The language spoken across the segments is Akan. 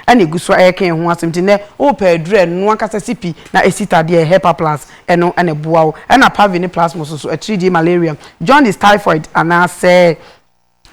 ɛna egu so ɛka yɛn ho asɛm nti nɛ wopɛ aduru a ɛno ankasa si pi na esi tadeɛ yɛ hepa plus ɛno na ɛboa wo ɛna pavi ne plasmos nso atiridie malaria jaundice typhoid anaasɛ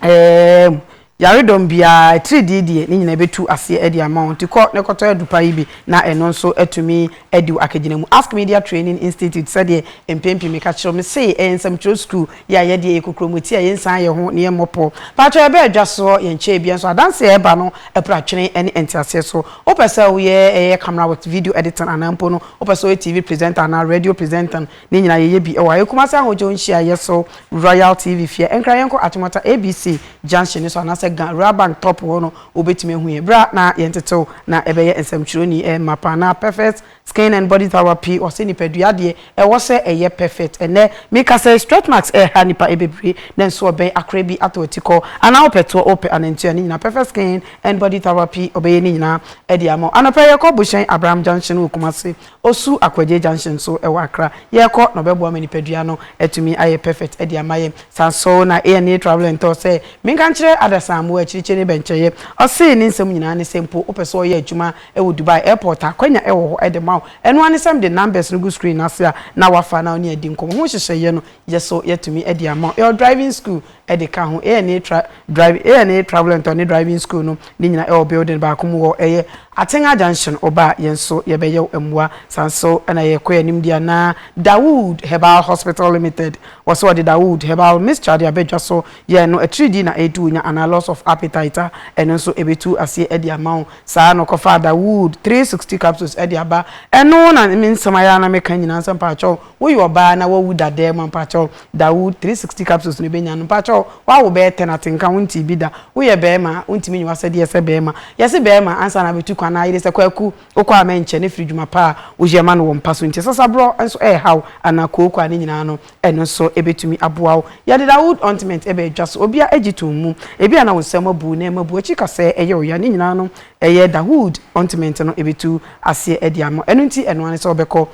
ɛɛm yaredɔm biara atiridie deɛ ne nyinaa ɛbɛtu aseɛ ɛde ama wo nti kɔ na ɛkɔtɔ adu pa yi bi na ɛno nso atumi adi wo akagyina mu ask media training institute sɛdeɛ mpɛn pii meka kyerɛ wo mesee ɛyɛ nsɛmtwerɛ sukuu Yɛ a yɛdeɛ yɛ kokromoti a yɛnsan yɛ ho na yɛmmɔ pɔ. Paatwɔ yɛbɛ adwa soɔ yɛnkyɛɛ bia nso adanseɛ a ɛba no ɛpra twene ɛne ɛnteaseɛ so. Wopɛ sɛ woyɛ ɛyɛ camera works, video editing anaa mpo no wopɛ sɛ woyɛ TV presenter anaa radio presenting ne nyinaa yɛyɛ bi ɛwɔ ha. Yɛ Kumasi Ahodwo nhyiaeɛ so Royal TV fie ɛnkra yɛnkɔ Atomata ABC junction no so anaasɛ Ga Rural Bank top hɔ no wobɛtumi ahu yɛn. Bra na yɛntete wo na ɛbɛyɛ nsɛmtwerɛni ɛmma paa anaa perfect Skin and body power pii ɔsɛ nipadua deɛ ɛwɔ sɛ ɛyɛ perfect ɛnɛ meka sɛ stretch marks ɛha nipa ɛbebree nanso ɔbɛn akora bi atɔ atikɔ anaa ɔpɛ toɔ ɔpɛ anantua ne nyinaa perfect skin and body power pii ɔbɛyɛ ne nyinaa ɛde ama wo anɔpa yi yɛkɔ bohyɛn abraham junction wɔ kumase osu akwagye junction nso ɛwɔ akra yɛkɔ na ɔbɛboa ma nipadua no atumi ayɛ perfect ɛde ama yɛn saa nso na ana travel and tour sɛ menka nkyerɛ adasa mmoa akyirikyiri ne bɛnkyɛyɛ ɔse ne nsɛm nyinaa ne sɛ mpo wopɛ sɛ ɔyɛ adwuma Ɛwɔ Dubai airport a, akwanya ɛwɔ hɔ de ma wo. Ɛno ara ne sɛ mede numbers no gu screen no ase a, na woafa na wo ne adi nkɔmmɔ. Ho nhyehyɛeɛ no yɛ so yɛatumi de ama wo. Ɛwɔ driving school de ka ho. ANA tra drive ANA Travel and Tour ne driving school no, ne nyinaa ɛwɔ building baako mu wɔ ɛyɛ Atenga Junction. Woba a, yɛn nso yɛbɛyɛ wo mmoa. Saa nso na ɛyɛ Koi anim deɛ anaa? Dawood Herbal Hospital Limited, wɔ sɛ wɔde Dawood Herbal Mixture ade aba dwa so yɛɛ no, atiridii na ɛretu wo nya anaa loss of appetite a, ɛno nso ɛbɛtu aseɛ de ama wo. Saa ara na ɔkɔfaa da wood three sixty capsules ɛde aba. Ɛno na me nsɛm ayɛ ara na meka nyinaa sɛ mpakyɛw woyɛ ɔbaa na wawu da dɛɛ mu a mpakyɛw da wood three sixty capsules no bɛnya no. Mpakyɛw wawo bɛyɛ ten atenka wontee bi da. Woyɛ bɛɛma a wontumi nyɛ wasɛdeɛ sɛ bɛɛma. Yɛse bɛɛma ansa na abɛtu kwan na ayere sɛ kwaku wokɔ a mɛnkyɛ ne firi dwuma pa a woyɛ ma no wɔ mpa so nti. Sasaborɔ nso ɛɛhaw anaa kooko a ne nyinaa no Ɛno nso betumi aboa wo. Yɛde The Old Ointment ɛba adwa so. Obiara gye toom mu. Ebia na wo nsam abu na ɛma bu akyi ka sɛ ɛyɛ wo ya. Ne nyinaa no, ɛyɛ The Old Ointment no ebetu aseɛ ɛde ama wo. Ɛno nti, ɛno ara ne sɛ wobɛkɔ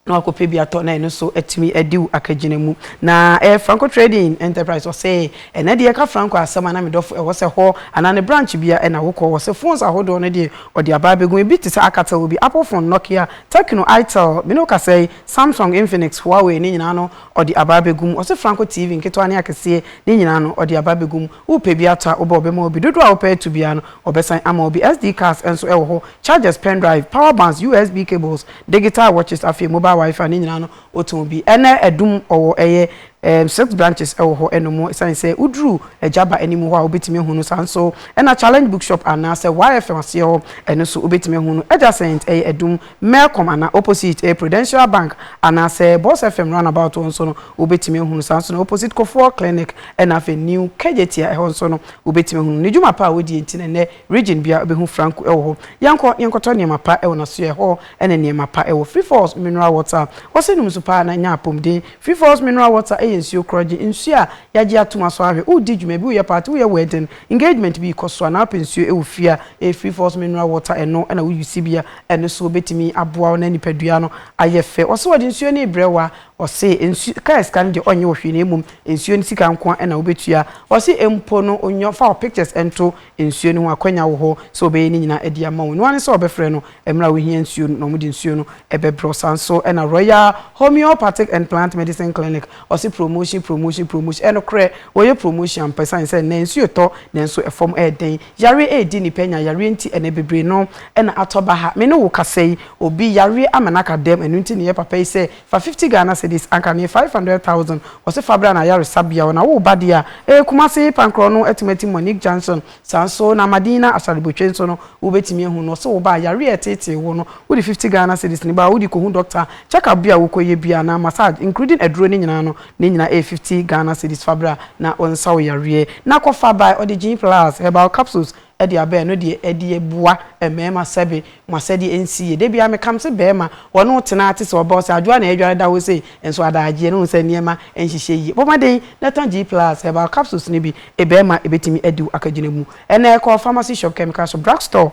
na woakɔpɛ bi atɔ na ɛno nso atumi adi wo akagyina mu. Na ɛyɛ Franco Trading Enterprise. Ɔse, Ɛnnɛ deɛ yɛka Franco asɛm a na me dɔfo ɛwɔ sɛ hɔ anaa ne branch bia ɛna wokɔ. Ɔse, Phones ahodoɔ no deɛ ɔde aba abegu. Ebi te sɛ Alcatel wɔ bi, Apple phone, Nokia, Tecno, Itel, me ne wo kasa yi, Samsung, Infinix, Huawei ne nyinaa no ɔde aba abegu mu. Ɔse franco TV nketewa ne akeseɛ ne nyinaa no ɔde aba abegu mu. Wopɛ bi atɔ a, wobɛ ɔbɛma wo bi. Dodoɔ a wopɛ atu biara no ɔbɛsan ama wo bi. SD cards nso wɔ hɔ, chargers, pen drive, power bands, USB cables, digital watches afei mobile wifi ne nyinaa no wotɔn bi. Ɛnɛ adum ɔwɔ ɛyɛ ɛɛm six branches wɔ hɔ ɛno mo ɛsane sɛ woduru agya ba anim hɔ a wobɛtumi ahu no saa nso na challenge bookshop anaasɛ YFM aseɛ hɔ ɛno nso wobɛtumi ahu no adjacent ɛyɛ adum Melcom anaa opposite ɛyɛ Prudential Bank anaasɛ Boss FM roundabout hɔ nso no wobɛtumi ahunu, saa nso na opposite Kofour Clinic ɛna afei New Kejetia ɛhɔ nso no wobɛtumi ahunu ne dwuma pa a ɔdie nti na ɛnɛ region biara wobɛhu Franku ɛwɔ hɔ. Yɛnkɔ na yɛnkɔtɔ nneɛma pa ɛwɔ n'asoɛ ɛhɔ ɛna nneɛma pa ɛwɔ Free Falls Mineral Water a wɔse nom nsu paa na nya apomden. Free Falls Mineral Water ɛyɛ nsuo korɔgye, nsuo a yɛagye atom asɔ ahwɛ, woredi dwuma bi, woyɛ party, woyɛ wedding, engagement bi rekɔ so a na wopɛ nsuo wɔ fie a, ɛyɛ Free Falls Mineral Water ɛno na wo use bi a Ɛno so bɛtumi aboa wo na nipadua no ayɛ fɛ. Ɔse ɔde nsuo no rebrɛ wo a, ɔse nsu, car sika no deɛ ɔnyɛ wo hwee na mmom nsuo no sika nko ara na wobɛtua. Ɔse mpo no onyɔ, fa wo pictures nto nsuo no ho, akwanya wɔ hɔ sɛ ɔbɛyɛ ne nyinaa adi ama wo. Ɛno ara ne sɛ ɔbɛfrɛ no mmerɛ a wohia nsuo no na ɔmo de nsuo no bɛbrɛ wo. Saa nso na Royal Homeopathic and Plant Medicine Clinic, ɔse promotion, promotion, promotion. Ɛyɛ nokorɛ, wɔyɛ promotion ampa ɛsiane sɛ nnɛ nsuo retɔ nanso ɛfam ɛyɛ den. Yareɛ ɛredi nnipa anya yareɛ nti ɛnɛ bebree no na atɔ baha me ne wo kasa yi obi yareɛ ama no aka dɛm ɛno nti na ɛyɛ papa yi sɛ fa fifty Ghana cedis anka no yɛ five hundred thousand ɔse fa bra no ayaresabea hɔ na wo ba deɛ a ɛyɛ Kumasi Pankorɔ no atumi atim Monique Johnson saa nso na Madina Asare-Botwe nso no wo bɛtumi ahu no ɔse wo ba a yareɛ a ɛtetee wo no wode fifty Ghana cedis no ba hɔ wode kɔhu doctor check up bi a wokɔ yɛ biara anaa massage including aduro no nyinaa no Ne nyinaa ɛyɛ fifty Ghana cedis fa bra na wo nsa wo yareɛ na kɔ fa bae ɔde gin plus herbal capsules de aba ɛno deɛ ɛde boa mmarima sɛbe mo asɛdeɛ ɛnsi yie da biara meka mese barima wɔne wo tena te sɛ ɔba ɔse adwoa na ɛdware da hɔ sei nso adaagyeɛ no hu sɛ nneɛma nhyehyɛ yie bɔ mmɔden na tɔ gin plus herbal capsules no bi ɛbarima ɛbɛtumi adi wo akagyina mu ɛnɛ kɔ pharmacy shop chemical shop drug store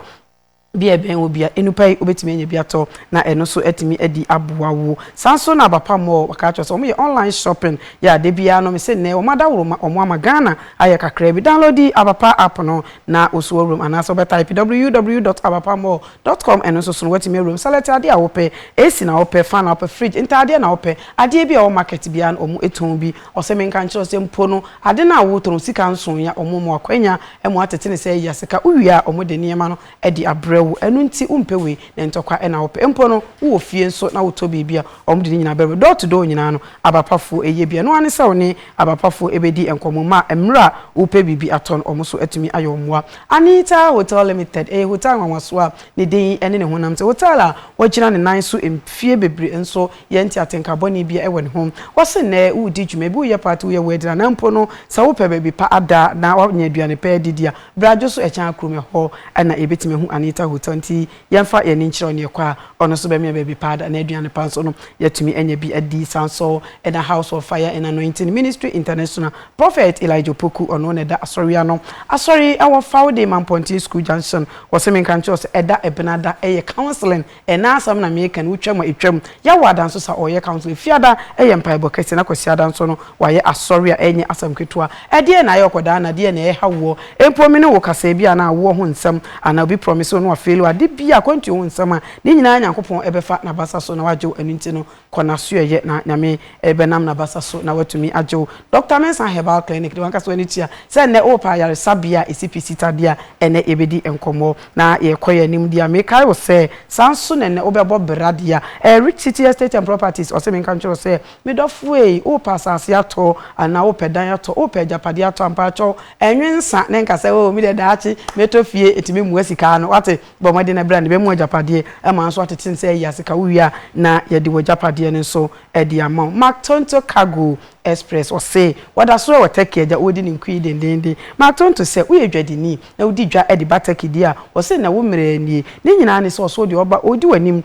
Bia ɛbɛn wo bia enupa yi wobɛtumi anya bi atɔ na ɛno nso atumi adi aboa wo. Saa nso na Abapa Mall wɔka akyerɛ wo sɛ wɔn yɛ online shopping yɛ a da biara no mese nnɛ wɔn adaworo ma wɔn ama Ghana ayɛ kakraa bi. Downloadi Abapa app no na wo so awura mu anaasɛ wobɛ type www dot abapa mall dot com ɛno nso so no woatumi awura mu. Select adeɛ a wopɛ, AC na wopɛ, fan na wopɛ, fridge, ntaadeɛ na wopɛ, adeɛ bi a ɛwɔ market biara no wɔn tɔn bi. Ɔse menka nkyerɛ wo sɛ mpo no ade no a wo tɔ no sika nson ya ɔmo mɔ akwanya ɛmo atete ne sɛ ya sika wo wie a ɔmo de nneɛma no ɛde abrɛ wo ɛno nti wo mpɛ wei na ntɔkwa ɛna wo pɛ mpo no wo wɔ fie nso na wo tɔ biribi a ɔmo de ne nyinaa brɛ wo door to door nyinaa no aba pa foɔ ɛyɛ bi ɛno ara ne sɛ wo ne aba pa foɔ ɛbɛdi nkɔmɔ ma mmerɛ a wo pɛ biribi atɔ no ɔmo so atumi ayɛ wo mmoa. Anita Hotel Limited ɛyɛ hotel nwanwasoɔ a ne din ɛne ne honam te hotel a wagyina ne nan so mfie bebree nso yɛ nti atenka bɔne bia ɛwɔ ne ho. Wɔse nnɛ woredi dwuma bi, woyɛ party, woyɛ wedding anaa mpo no sɛ wopɛ baabi pa ada na woanya aduane pa adidi a, bra dwo so ɛkyɛn akrom ɛhɔ na yɛbɛtumi ahu Anita Hotel nti yɛmfa yɛn ani nkyerɛ ɔne ɛkɔ a ɔno nso bɛmia baabi pa ada na aduane pa nso no yɛatumi anya bi adi. Saa nso na House of Fire and Anointing Ministry International Prophet Elijah Opoku ɔno na ɛda asɔre ano. Asɔre ɛwɔ Fawde Mampɔnten School Junction. Wɔse menka nkyerɛ wo sɛ ɛda Ɛbenada ɛyɛ counseling Ɛna asɛm na meka no, wotwam a etwam. Yaw wɔ ada nso sa ɔyɛ council. Efiada yɛ mpaebɔ kɛse na Kwasiada nso no wayɛ asɔre a ɛnyɛ asɛm ketewa. Ɛdeɛn na ayɛ ɔkɔdaa na deɛn na ɛreha woɔ? Mpo me ne wo kasaɛ bi anaa awoɔ ho nsɛm anaa obi promise wo na wafeeli wo ade bi a akwantuo ho nsɛm a ne nyinaa Nyankopɔn bɛfa nabasa so na wagye wo ɛno nti no Kɔ n'asoɛeɛ na Nyame rebɛnam n'abasa so na watumi agye wo. Doctor Mensah Herbal Clinic de w'ankasa w'ani tua sɛ nnɛ wowɔ paa ayaresabea a ɛsi pi Sita bi a ɛnnɛ yɛbɛdi nkɔmmɔ na yɛrekɔ yɛn anim deɛ a mekae wo sɛ saa nso na nnɛ wobɛbɔ bra deɛ a ɛyɛ Rich City Estate and Properties ɔse menka nkyerɛ wo sɛ me dɔfo ei wopɛ asase atɔ anaa wopɛ dan atɔ wopɛ agyapadeɛ atɔ a mpakyɛw ɛnwe nsa na nka sɛ oo medeɛ daakye mɛtɔ fie ɛtumi mua sika no wate Bɔ mmɔden na bra na bɛma wo agyapadeɛ, ɛma nso atete nsa ayi ase ka wo wie a, na yɛde w'agyapadeɛ no nso de ama wo. Mark Tonto Cargo Express ɔse, Wɔda so wɔ Turkey agya wɔredi ne nkuyi dendeenden. Mark Tonto sɛ woyɛ dwadini na wodi dwa de ba Turkey deɛ a, ɔse nnɛ wo mmerɛ nie. Ne nyinaa ne sɛ ɔso deɛ ɔba ɔredi w'anim.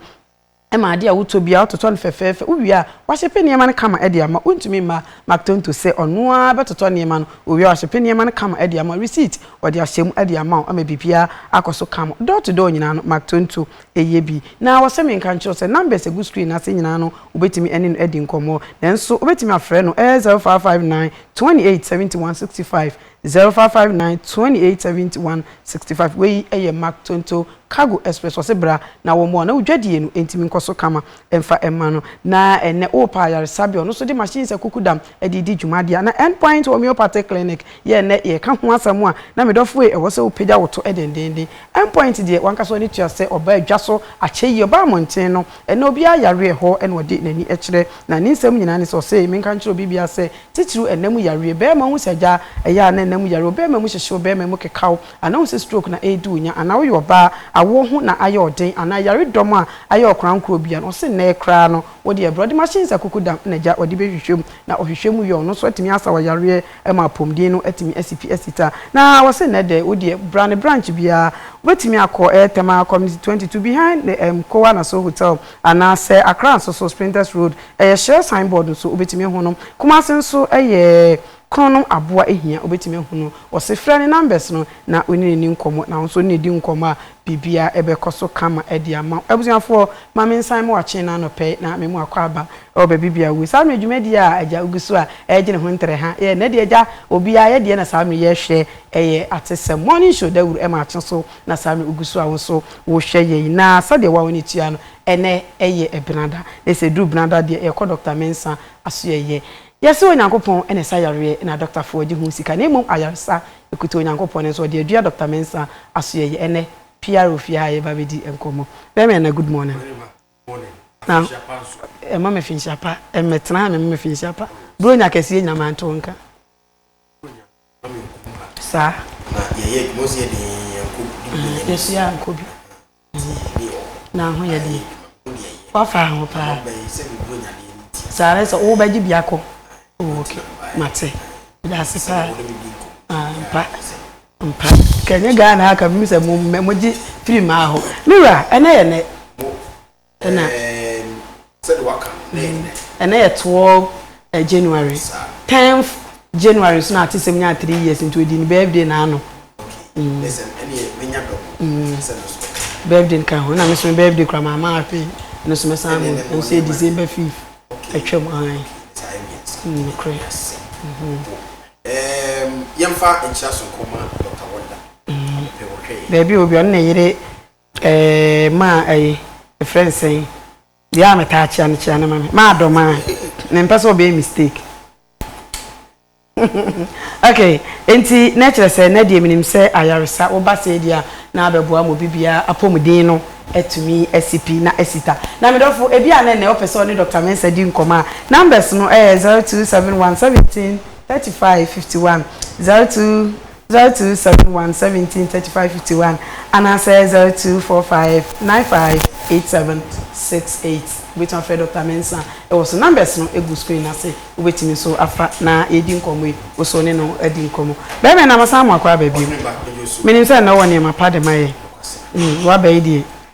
ma ade a wotɔ biara wototɔ no fɛfɛɛfɛ, wowie a wɔahyepe nneɛma no kama de ama wo. Wontumi mma McTonto sɛ ɔno ara bɛtotɔ nneɛma no, owie a wahyepe nneɛma no kama de ama wo, receipt wɔde ahyɛ mu de ama wo ama biribiara akɔ so kama. Door to door nyinaa no, McTonto yɛ bi. Na wɔsɛ menka nkyerɛ wo sɛ numbers a ɛgu screen no ase nyinaa no, wobɛtumi ne no adi nkɔmmɔ. Nanso wobɛtumi afrɛ no, ɛyɛ 0559 28 71 65, 0559 28 71 65 Wei yɛ Mark Tonto Cargo Express Ɔse bra na wɔmmoa wo na wo dwadie no ntumi nkɔ so kama Mfa mma no na ɛnnɛ worepa ayaresabea Ɔno nso de machines akukudam de redi dwuma Adeɛ a na End Point Homeopathic Clinic yɛ ɛnnɛ yɛreka ho asɛm a na me dɔfo ei Ɛwɔ sɛ wopagya wo to dendeenden End Point deɛ w'ankasa w'ani tua sɛ ɔbaa adwa so akyɛ yi Ɔbaa mmɔnten no ɛnnɛ obiara yareɛ hɔ na ɔde n'ani kyerɛ Na ne nsɛm nyinaa ne sɛ ɔse menka nkyerɛ obi biara sɛ Tsitsir ɛna mu yareɛ, bɛrima ɔhu sɛ agya ɛyɛ a na ɛna mu yareɛ, ɔbɛrima mu hyehyew, bɛrima mu kekaw, anaa ɔhu sɛ stroke na ɛredi wo nya, anaa woyɛ ɔbaa, awoɔ ho na ayɛ ɔden, anaa ɛyaredɔm a ayɛ ɔkorankorɔ bi a, na ɔse nnɛɛ koraa no wo deɛ brɔde machines akukudam na agya ɔde bɛhwehwɛ mu, na ɔhwehwɛ mu yɛ ɔno nso atumi asa wo yareɛ ma apɔmuden no atumi asi pi asi ta, na ɔse nnɛ dɛ wo deɛ bra ne branch biara, wobɛtumi akɔ ɛyɛ Tema Community twenty two behind the Mkoa Naso Hotel, Anaa sɛ Accra nso so Spintex Road yɛ Shell sign board nso wobɛtumi ahu no. Kumasi nso yɛ Kono nom aboa hia wobɛtumi ahu no. Wɔse frɛ ne numbers no na wone no nni nkɔmmɔ na wo nso wone no di nkɔmmɔ a biribiara ɛbɛkɔ so kama de ama wo. Abusuafoɔ ma me nsan mo akyee no anɔpɛ yi na me mo akɔ aba wɔ baabi biara wɔ saa mmerɛ dwumadie a agya wogu so a ɛregye ne ho ntere ha yɛ ɛnɛ deɛ agya obiara yɛ deɛ na saa mmerɛ yi yɛrehwɛ yɛ atesɛm morning show dawuro ɛma akye so. na saa na ogu so a wo nso wohwɛ yɛn na sɛdeɛ wo a w'ani tua no ɛnnɛ yɛ benada na sɛ ɛduru benada deɛ yɛkɔ Doctor Mensah asoɛeɛ yɛse Onyankopɔn na ɛsa yareɛ na dɔktafoɔ gye ho sika na mmom ayaresa ɛkuta Onyankopɔn nanso ɔde adua Doctor Mensah asoɛeɛ ɛnnɛ PR wɔ fie ha a yɛba bɛdi nkɔmmɔ bɛma ɛna good morning na ɛma me finhyia pa ɛmɛtena ha mema me finhyia pa bro nya kɛseɛ nyina manto nka Saa. Na yɛyɛ adwuma sɛ yɛde yɛn yɛn kɔ bi. Mm, yɛsi yɛn kɔ bi. Na ho yɛ deɛ. Wafa ho paa. Saa ara sɛ wobɛgye bi akɔ. Oh, ok, mate. Daase paa. Ah, mpa. Mpa. Kɛnyɛ Ghana aka bi sɛ mo mo gye firi maa hɔ. Mewura, ɛnɛ yɛ nɛ. Ɛna ɛna yɛ twelve January tenth January nso na atesɛm nya three years nti odi ne birthday na ano. Birthday no ka ho na me nso me birthday kura maa maa afei ɛno nso mɛsan abɔ ɛno nso yɛ December fifth atwam ahan nokorɛ. Yɛmfa nkyerɛ so nkɔma Dr. Wonder. Baabi a obi ɔno na ɛyere. Eeii maa ɛyi yɛfrɛ no sɛn deɛ a metaa kyea no kyea no ma me maa dɔ maa mempɛ sɛ ɔbɛyɛ mistake ok enti na ɛkyerɛ sɛ na deɛ menim sɛ ayaresa woba sɛ deɛ a na abɛboa ma obi biara apɔmuden no atumi asi pi na asi ta na me dɔfo ebi a na ɛnɛ ɔpɛ sɛ ɔne Dr. Mensah di nkɔmmɔ a numbers no ɛyɛ 0271 17 35 51 02 0271 17 35 51 anaasɛ 0245 95 87 68. Wobɛtumi afrɛ Dɔkta Mensah wɔ so. Numbers no gu screen no ase. Wobɛtumi nso afra na yɛadi nkɔmmɔ yi. Wo nso wo ne no adi nkɔmmɔ. Bɛrima yi, na masan mo akɔ aba bio. Menim sɛ nnɛ wowɔ nneɛma pa de ma yɛn. Woaba yi deɛ.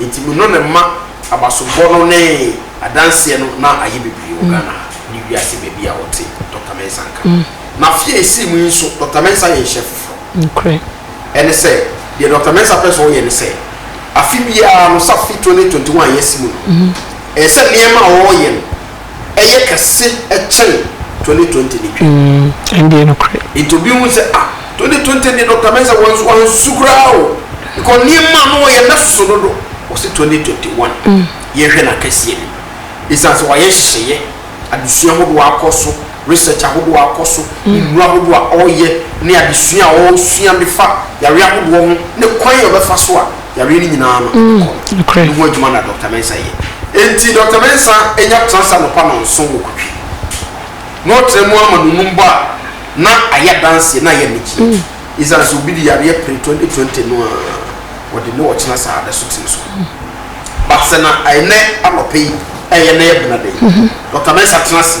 Nti me no ne mma abasobɔ no ne adanseɛ no na ayɛ bebree wɔ Ghana ha ne wiase baabi a ɔte, Dɔkta Mensah nka. Na afe a ɛsii mu yi nso Dɔkta Mensah ayɛ nhyɛ foforɔ. Ɛne sɛ, deɛ Dɔkta Mensah pɛ sɛ ɔyɛ ne sɛ, afe biara no, sɛ afe 2021 a yɛasi mu no, ɛsɛ sɛ nneɛma a ɔreyɛ no, ɛyɛ kɛse kyɛn twenty twenty ne twa. Mm, ɛndeɛ nokorɛ. Nti obi hu sɛ ah twenty twenty deɛ Doctor Mensah wansu wansu koraa o because nneɛma no ɔyɛ n'asoso dodo ɔsi twenty twenty one mm. yɛn hwɛ n'akɛseɛ no esan sɛ wayɛ nhyehyɛeɛ adesua ahodoɔ akɔ so research ahodoɔ akɔ so mm. nnuro ahodoɔ a ɔreyɛ ne adesua a ɔresua de fa yare ahodoɔ ho ne kwan a ɔbɛfa so a yareɛ no nyinaa no mm, kɔ no ho adwuma na Dr. Mensah yɛ. Enti Dr. Mensah anya transa nɔpa nɔnson wɔ Kotwi na ɔtena mu ama nonum bɔ a na ayɛ adanseɛ na ayɛ anigyeɛ. Mm. Ɛsiane sɛ obi de yareɛ pere 2020 no a wɔde ne ɔkyena saa da so tene so. Mm. But sɛ na ɛnɛ anɔpa yi ɛyɛ na yɛ benadɛ yi, mm-hmm. Dr. Mensah tena ase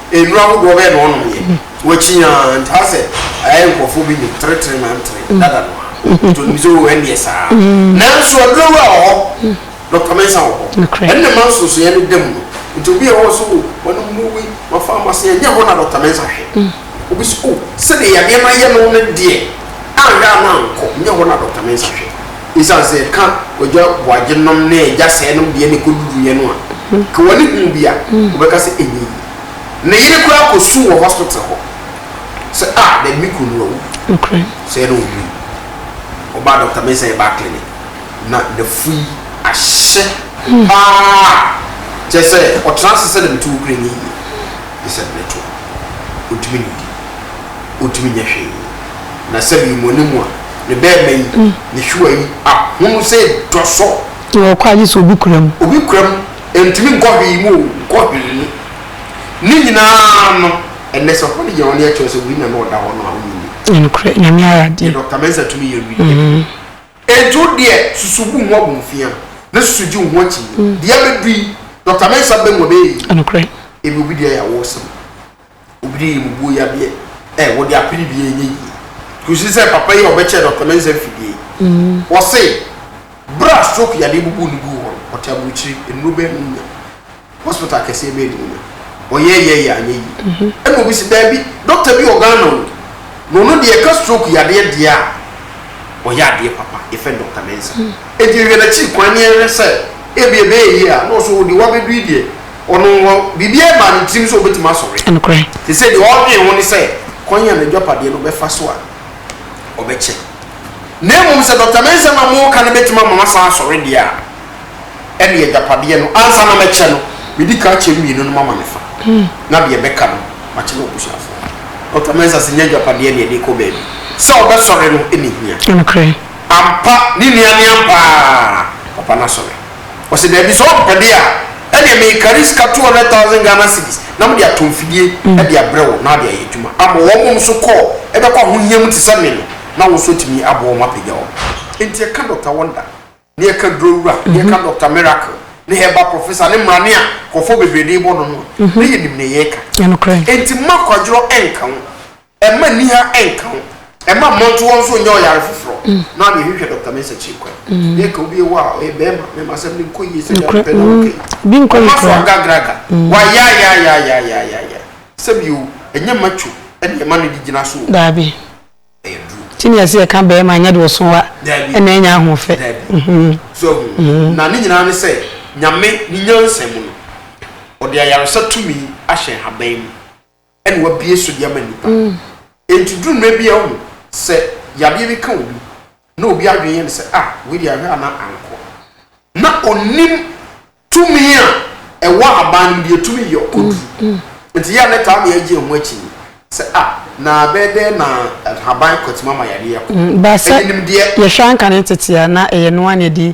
Nnuru ahodoɔ bɛn na ɔnomyɛ? Wakyi aa nti ha sɛ ayɛ nkurɔfoɔ bi nom tretre na ntere dada no a nti ɔnim sɛ oo ɛnneɛ saa nanso aduro wura wɔ hɔ Dɔkta Mensah wɔ hɔ ɛno na ɛma nsonsonoeɛ no da mu no nti obi a ɛwɔ hɔ sɛ oo manom nnuru wei ma pharmacy ɛnyɛ hɔ na Dɔkta Mensah hwɛ obi sɛ oo sɛdeɛ yadeɛ no ayɛ no no deɛ anhwɛ a na ankɔ ɛnyɛ hɔ na Dɔkta Mensah hwɛ. Esiane sɛ ka Ogya Boagye nom ne Gya Sɛɛ nom deɛ na ɛkɔduruiɛ no a, ka wɔne huu bi a, wɔbɛka sɛ ɛnyɛ yie. Ne yere koraa kɔsuu wɔ hospital hɔ sɛ, Ah, daabi me kunu no awu. Sɛɛ na ɔwui. Ɔbaa Dɔkta Mensah yɛ baa clinic, na n'afu yi ahyɛ paa, kyerɛ sɛ, ɔtena ase sɛ na me tuo kura ɛnyɛ yie. Gye sɛ berɛ to. Ɔntumi nnidi. Ɔntumi nyɛ hwee. Na sɛ me mone mu a, ne bɛɛma yi, ne hyewa yi, ahono sɛ dɔsɔ. Deɛ ɔkɔ a gye sɛ obi kura mu. Obi kura mu, ɛntumi nkɔ hwee mu o, nkɔ hwee mu. Ne nyinaa no, ɛnnɛ sɛ ɔfa no gyina hɔ na yɛkyerɛ sɛ wei na na ɔda hɔ no a, wonyi nie. Ɛyɛ nokorɛ, Nyame ayɛ adeɛ. Deɛ Dɔkta Mensah tumi yɛ wieɛ. Enti wo deɛ, susu bu wo ho abomfia, na susu gye wo ho akyinnye. Deɛ abɛdu yi, Dɔkta Mensah bɛ mu a, ɛbɛyɛ yie. Ɛyɛ nokorɛ. Ebi obi deɛ yɛ awoo sen. Obi de mmubuo yadeɛ ɛ wɔde apene bi ɛnyɛ yie. Kɔsi sɛ papa yi a ɔbɛkyɛɛ Dɔkta Mensah mfidie yi, wɔse berɛ a stroke yadeɛ bubuu no guu hɔ no, ɔte aburokyire, nnuro bɛn na ɔnya? Hospital akɛseɛ bɛn na ɔnya? Ɔyɛɛyɛɛyɛ anyɛ yie. Ɛna obi se daabi, dɔkta bi wɔ Ghana o, na ɔno deɛ ɛka stroke yadeɛ deɛ a, ɔyɛ adeɛ papa, yɛfrɛ no Dɔkta Mensah. Enti yɛhwɛ n'akyiri kwan na yɛhwɛ sɛ ebia ɛbɛyɛ yie a, na ɔse oo deɛ wabɛdu yi deɛ, Ɔno wɔ biribiara maa ne tirim sɛ ɔbɛtumi asɔre. Te sɛ deɛ ɔredwen ho ne sɛ kwan a n'adwapadeɛ no bɛfa so a ɔbɛkyɛ. Na mmom sɛ Dɔkta Mensah na moreka no bɛtumi ama masan asɔre deɛ a, ɛnneɛ agyapadeɛ no, ansa na mɛkyɛ no, mɛdi kan akyɛ mmienu no mama me fa, na deɛ ɛbɛka no, makyɛ m'abusuafoɔ. Dɔkta Mensah se, Nyɛ agyapadeɛ na yɛde rekɔ baabi. Sɛ ɔbɛsɔre no na ɛhia. Ampa, ne nua ne ampa ara papa no asɔre. Ɔse daabi sɛ ɔmpɛ de a ɛneɛ mekari sika 200 thousand Ghana cedis na mede atɔ mfidie de abrɛ wo na wode ayɛ adwuma ama wɔn mom so kɔɔ ɛbɛkɔ ahohia mu te sɛ me no na wo nso atumi aboa wɔn apagya wɔn. Enti ɛka Doctor Wonder ne ɛka Duro Wura ne ɛka Doctor Miracle ne Herbal Professor ne mmrane a nkurɔfoɔ bebree de rebɔ no no a na yɛnim nea yɛreka. Enti mma kwadworɔ ɛnka wo. Mma niha nka wo. Mma mmɔnto hɔ nso nyɛ ɔyare foforɔ. Na ɔne hwehwɛ Doctor Mensah Kyirikwan. Deɛ ka obi wɔ a ɔyɛ bɛɛma, mɛma asɛm no nkɔ yie sɛdeɛ wopɛ na woka yi. Ɔma so agagraga. Wayaayaayaayaayaayaa. Sɛbi o, ɛnyɛ macho ɛne ɛma no de gyina so o. Daabi. Ɛyɛ duro. Ti neɛ sɛ yɛka bɛɛma ɛnyɛ deɛ ɔso wa ɛna ɛnya ahofɛ. Daabi. So ahu. Na ne nyinaa ne sɛ Nyame ne nyansa mu no, ɔde ayaresa tumi ahyɛ nhaban mu. na wabue so de ama nnipa. Enti duru mmerɛ bi a wohu sɛ yadeɛ bi ka obi na obi adwene yɛ no sɛ ah wei deɛ ahwɛ a na ankɔ na ɔnim tumi a ɛwɔ aban no mu deɛ ɛtumi yɛ ɔkɔduru. Nti yɛ a na taa mea gye ho akyi ni sɛ ah na bɛyɛ dɛn na ahaban kɔtumi ama yadeɛ akɔ. Baasa yɛhwɛ anka ne tete a na ɛyɛ noa na ɛdi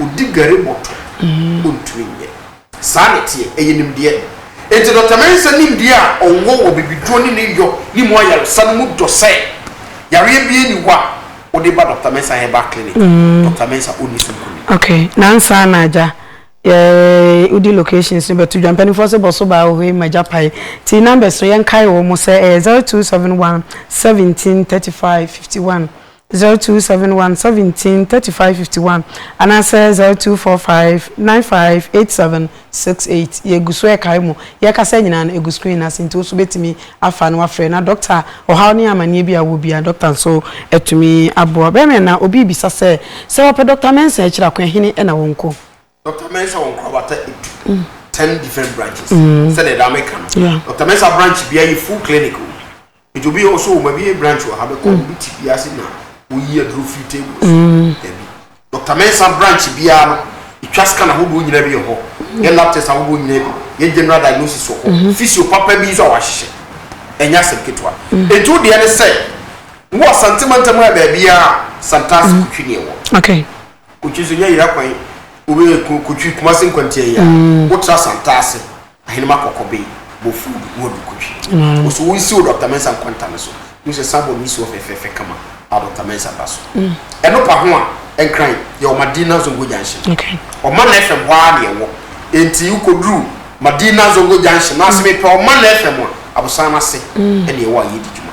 Ɔdi gari bɔtɔ, ɔntumi nyɛ. Saa na ɛteɛ, ɛyɛ nimdeɛ. Enti Dɔkta Mensah nimdeɛ a ɔwɔ wɔ bibiduro ne ne yɔ ne mu ayaresa no mu dɔ sɛ yareɛ biara nni hɔ a wode ba Dɔkta Mensah Herbal Clinic a Dɔkta Mensah ɔnni so nkonim. Ok, nansa na agya, yɛ wodi locations no bɛto dwa. Mpaninfoɔ se bɔso baa wɔ hɔ yi ma gya pae. Ti numbers no yɛnkae wɔn sɛ ɛyɛ 0271 17 35 51 zero two seven one seventeen thirty five fifty one anaasɛ zero two four five nine five eight seven six eight. Yegu so rekae mo. Yɛrekasa yi nyinaa no, egu screen no ase nti wo nso wubetumi afa na woafrɛ. Na dɔkta, ɔhaw ne amanneɛ bi a wowɔ biara, dɔkta nso atumi aboa wo. Bɛyɛ mmerɛ na obi rebisa sɛ, Sɛ wɔpɛ Dɔkta Mensah akyiri a, Kwan Hene na wɔnkɔ? Dɔkta Mensah wɔ nkorabata du, ten different branches, sɛdeɛ daa meka no. Yeah. Dɔkta Mensah branch biara yɛ full clinic o. Nti obi wɔ so o, mabie branch wɔ ha, bɛkɔ a wobi te bi ase na woyi aduro firi table so. Dabi. Dɔkta Mensah branch biara no, yɛtwa scan ahodoɔ nyinaa bi wɔ hɔ, yɛ lab test ahodoɔ nyinaa bi, yɛ general diagnosis wɔ hɔ, physio papa bi nso a wɔahyehyɛ. Ɛnyɛ asɛm ketewa. Nti wo deɛ ne sɛ, wowɔ Asante mantam ha baabiara a, Santase Kotwi ne ɛwɔ. Okay. Kotwi nso nyɛ yera kwan obe kotwi kumase nkwantia yi a wo tra santase ahenema kɔkɔ be bɔ food wo adu kotwi wo so wo nsi wo dɔkta mensa nkwanta no so hu sɛ san bɔ no nsi hɔ fɛfɛɛfɛ kama a dɔkta mensa ba so ɛno pa ho a ɛnkran yɛ wɔ madina zongo junction ɔma na fm hɔ a na ɛwɔ enti wo koduru madina zongo junction na aseme pɛ ɔma na fm a abosan no ase ɛna ɛwɔ a yɛdi dwuma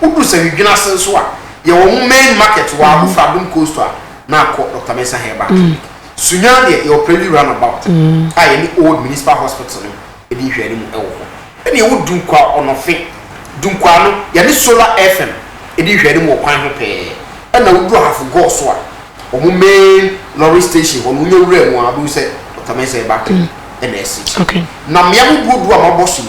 Wodu Sawidwene ase nso a, yɛ wɔn main market hɔ a, wofra Adom Coastal a, na akɔ Doctor Mensah Herbal Clinic. Sunyani deɛ, yɛwɔ Preli Roundabout a yɛne Old Municipal Hospital no di nhwɛanimu wɔ hɔ. Ɛnna yɛwɔ Dunkwaa Ɔnɔfe, Dunkwaa no, yɛne Solar FM di nhwɛanimu wɔ kwan ho pɛɛ. Ɛnna wodu Ahafo Gɔɔ so a, wɔn main lorry station hɔ no, wonya wuraa mu a, wobɛhu sɛ Doctor Mensah Herbal Clinic na ɛsi akyire. Na mmea mu duoduo a mabɔ so yi,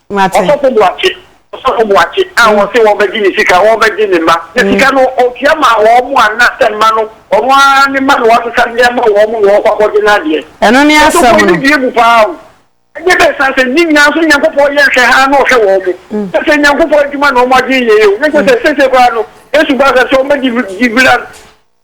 Ɔsɔfo Boakye Ɔsɔfo Boakye a mm. wɔse wɔbɛgye ne sika, wɔbɛgye ne mma. Na mm. sika no ɔtua ma wɔn mu anna sɛ mma no, ɔno ara ne mma na wɔasesa de ama wɔn mu na wɔkɔ akɔgye no adeɛ. Ɛno ne asɛm no. Ɔsɔfo yi bie mu paa o. Ɛnyɛ bɛɛ san sɛ ne nyinaa nso Nyankopɔn yɛ nhwɛ ha na ɔhwɛ wɔn mu. Mm. Sɛ sɛ Nyankopɔn adwuma na wɔn adwene yɛ yɛ o. Ne sɛ sɛ sese koraa no, Yesu ba sɛ sɛ wɔbɛgye gye bila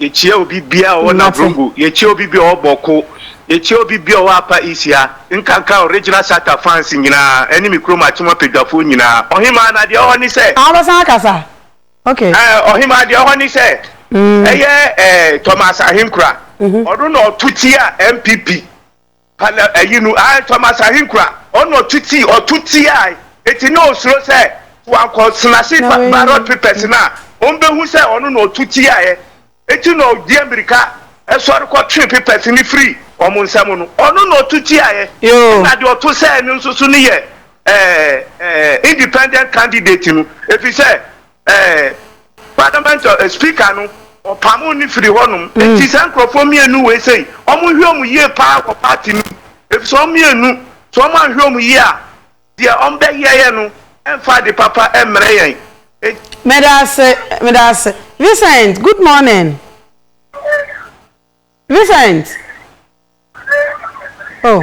Yekyia obi bia ɔwɔ Navrongo, yekyia obi bia ɔwɔ Bawku, yekyia obi bia ɔwɔ Apa Isia, nkanka Original Shatta fans nyinaa ɛne me kurom Akyem Apadwafoɔ nyinaa. Ɔhemaa na deɛ ɛwɔhɔ ne sɛ. Aa wobɛsan akasa? Ok. Ɛɛ Ɔhemaa deɛ ɛwɔhɔ ne sɛ ɛyɛ ɛɛ Thomas Ahenkura ɔno na ɔto tia NPP Pa na ayi no, ae, Thomas Ahenkura, ɔno na ɔto tii, ɔto tiaa yi, enti na ɔsuro sɛ sɛ wankɔ Senase ba, ballot papers no a, wɔbɛhu sɛ ɔno na ɔto tiaeɛ, enti na ɔdi amirika sɔre kɔtwee papers no firii wɔn nsam no, ɔno na ɔto tiaeɛ, ɛna deɛ ɔto sɛɛ no nso so no yɛ ɛɛ ɛɛ independent candidate no, ɛfiri sɛ ɛɛ parliament ɔ speaker no ɔpamoo no firi hɔnom mm. nti saa nkurɔfoɔ mmienu wei sei wɔn nhwɛ wɔn yie paa wɔ party no mu efisɛ wɔn mmienu sɛ wɔn anhwɛ wɔn yie a deɛ wɔn bɛyɛ yɛ no ɛnfa de papa ɛmmerɛ yɛn. mɛdaase mɛdaase Vincent good morning Vincent oh.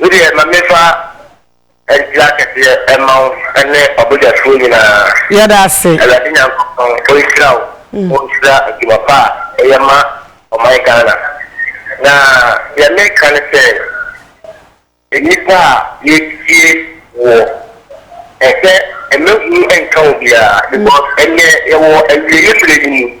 Me deɛ ma menfa nkyira kɛseɛ mma wo ne ɔbadwafoɔ nyinaa. Yɛda ase. Awurade Nyankopɔn ɔnhyira wo, ɔnhyira adwuma pa a woyɛ ma ɔman Ghana. Na deɛ meka ne sɛ, nnipa a yɛtie woɔ, ɛsɛ mma hu nka obiara because ɛnnɛ yɛwɔ awieɛ berɛ no mu.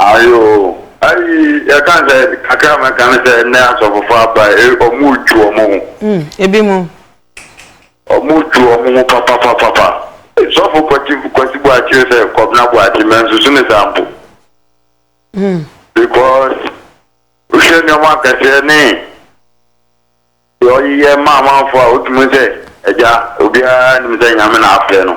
Ayo ayi yɛka sɛ kakra mɛka ne sɛ nnɛ asɔfofo aba ɔmo dwu ɔmo ho. Mm ebi mo. Ɔmo dwu ɔmo ho papapapapa. Sɔfo kwati kwasi bu akyire sɛ kɔbena bu akyi mɛ nsusu ne saa mpo. Mm. Because wohwɛ nneɛma akɛseɛ ne deɛ ɔyeyɛ ma amanfoɔ a wotumi sɛ agya obiara nim sɛ nyame na afrɛ no.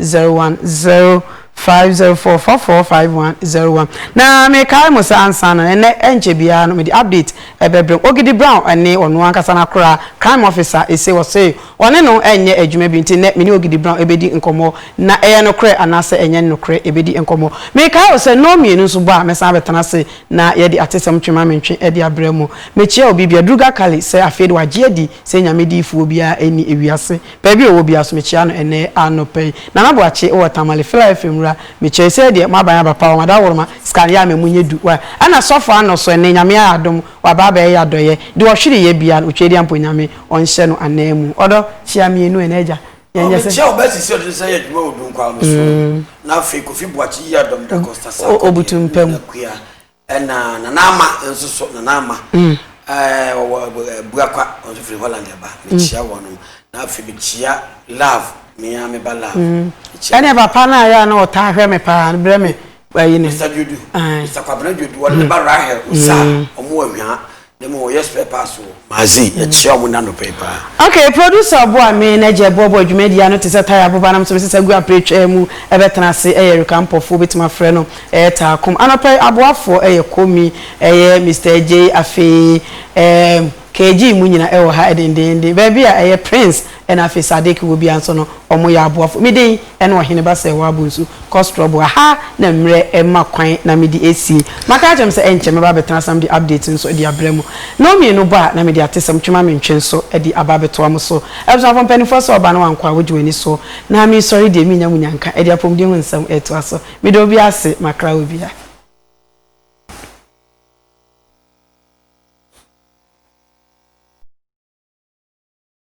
zero one zero five zero four four four five one zero one na mekae mo sɛ ansa na ɛnɛ ɛnkyɛ biara no mede update ɛbɛbrɛ Ogidi Brown ɛne ɔno ankasa no akora crime officer ɛse wɔse ɔne no ɛnyɛ adwuma bi nti nnɛ mene Ogidi Brown ɛbɛdi nkɔmmɔ na ɛyɛ nokorɛ anaasɛ ɛnyɛ nokorɛ ɛbɛdi nkɔmmɔ mekae wo sɛ nnɔn mmienu nso bɔ a mɛsan abɛtena ase na yɛde atesɛm twe ma mentwe ɛde abrɛ mo mekyia obi bia Druga Kali sɛ afei de wagye adi Sɛ Nyame diyifoɔ biara nni ewiase, baabi a ɔwɔ biara so mekyea no ɛnnɛ anɔpa yi. Nana Boakye wɔ Tamale, Philaelphia Mmura, mekyea yi, sɛɛ deɛ moaban aba paa o, Mada Woroma, Scan Yɛ Ama Mu Nyɛ Du wa, ɛna Sɔfo Ano so ɛnnɛ Nyame ayɛ adom, waba abɛyɛ yɛ adɔyɛ, deɛ ɔhwere yɛ biara no, Otwadeɛ mpo Nyame ɔnhyɛ no anan mu. Ɔdɔ kyea mmienu ɛna Agya, yɛnyɛ sɛ. Mekyea ɔbaa sisi a ɔde ne nsa yɛ adwuma wɔ Dunkwa no so, na afei Kofi Boakye Yiadom Da Costa Sarkodie, Nana Kua, Ɛna Nana Ama nso so, Nana Ama ɔwɔ Abuakwa, ɔno nso firi Holland ɛba, mekyia mm. wɔnom. Na afei mekyia Love, mea meba Love. Mm. Ɛne papa no a yɛ a na ɔtaa hwɛ me paa, brɛ me bayi no. Mr. Dwodu, Mr. Kwabena Dwodu, wɔde ne ba Rahel, Osa, ɔmo wɔ Hwaa. Ne mu wɔyɛ spare parts wɔ. Kumasi. Yɛkyia wɔn n'anɔpa yi paa. Okay producer ɔboa me na gya ɛboaboa dwumadie ano te sɛ tire aboba na me nso me sesa gu apere twaa mu ɛbɛtena ase ɛyɛ Erika Ampɔfoɔ wobɛtumi afrɛ no ɛyɛ Taakom anɔpa yi aboafoɔ ɛyɛ Komi ɛyɛ Mister Adjei afei ɛɛ KG mu nyina ɛwɔ ha dendeenden baabi a ɛyɛ Prince Ɛna afei Sadiq wɔ bia nso no ɔmo yɛ aboafo me den ɛna ɔhene ba sɛ wabu nsu kɔ strɔbo a haa na mmerɛ ɛma kwan na me de asie maka akyerɛ mo sɛ ɛnkyɛ mɛba abɛtena ase na mede update nso de abrɛ mo na ɔmienu bɔ a na mede atesɛm twema mentwe nso de aba abɛtoa mo so abusuafoɔ mpaninfoɔ sɛ ɔba na wankɔ a wogye wani so na meresɔre deɛ menya munya nka ɛde apɔmuden ho nsɛm retoa so meda obia ase makra wɔ bia.